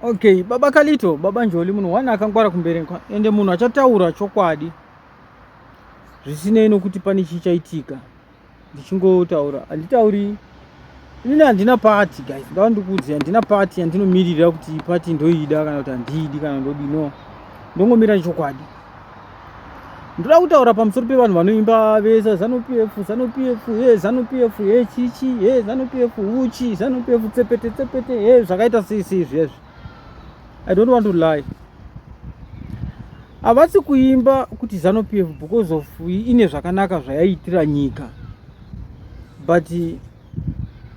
Okay, baba Kalito, baba Njoli munhu one akangwara kumberi ende munhu achataura chokwadi zvisinei nokuti pane chichaitika ndichingotaura handitauri inini handina pati guys ndava ndikuudzi handina pati yandinomirira kuti pati ndoida kana kuti handiidi kana ndodino ndongomira nechokwadi ndoda kutaura pamusoro pevanhu vanoimba vesa zanu pf zanu pf he zanu pf he chichi he zanu pf uchi zanu pf tsepete tsepete he zvakaita sei sei zvezvi i don't want to lie havasi kuimba kuti zanu pf because of ine zvakanaka zvayaitira nyika but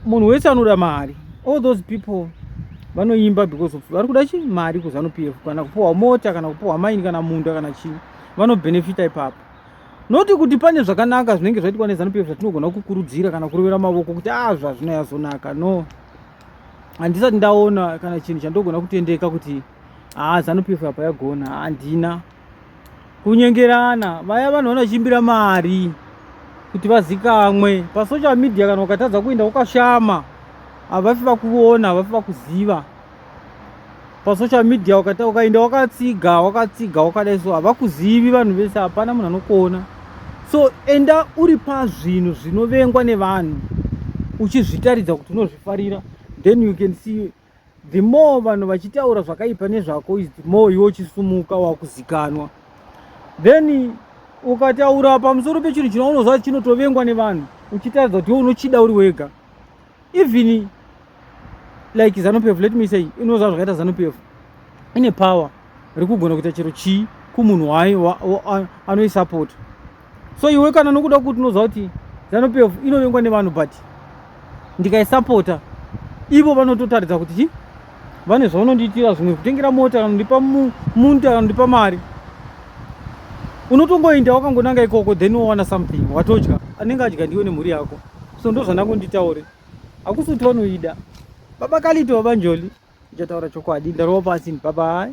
munhu wese anoda mari all those people vanoimba because of vari kuda chi mari kuzanu p f kana kupiwa mota kana kupiwa maini kana munda kana chii vanobenefita ipapo noti kuti pane zvakanaka zvinenge zvaitwa nezanu p f zvatinogona kukurudzira kana kurovera mavoko kuti a ah, zvazvino yazonaka no handisati ndaona kana chinhu chandogona kutendeka kuti haa ah, zanu p f apa yagona handina kunyengerana vaya vanhu vanochimbira mari kuti vazikamwe pasocial media kana ukatadza kuenda ukashama havafi vakuona havafi vakuziva pasocial media ukata ukaenda wakatsiga wakatsiga wakadai so havakuzivi vanhu vese hapana munhu anokuona so enda uri pazvinhu zvinovengwa nevanhu uchizvitaridza kuti unozvifarira then you can see the more vanhu vachitaura zvakaipa nezvako is the more iwe uchisumuka wakuzikanwa then ukataura pamusoro pechinhu chinounoziva kuti chinotovengwa nevanhu uchitaridza kuti iwe unochida uri wega even like zanupf let me say inoziva zvakaita zanupf ine power rekugona kuita chero chii kumunhu wayo anoisapota so iwe kana nokuda kuti unoziva kuti zanu pf inovengwa nevanhu but ndikaisapota ivo vanototaridza kuti chi vane zvavanondiitira zvimwe kutengera mota kanondipa munta kanondipa mari unotongoinda wakangonanga ikoko then wowana something watodya anenge adya ndiwe nemhuri yako so ndo zvandakunditaure hakusi kuti vanoida baba kalito baba njoli ndichataura chokwadi ndarova pasi baba hai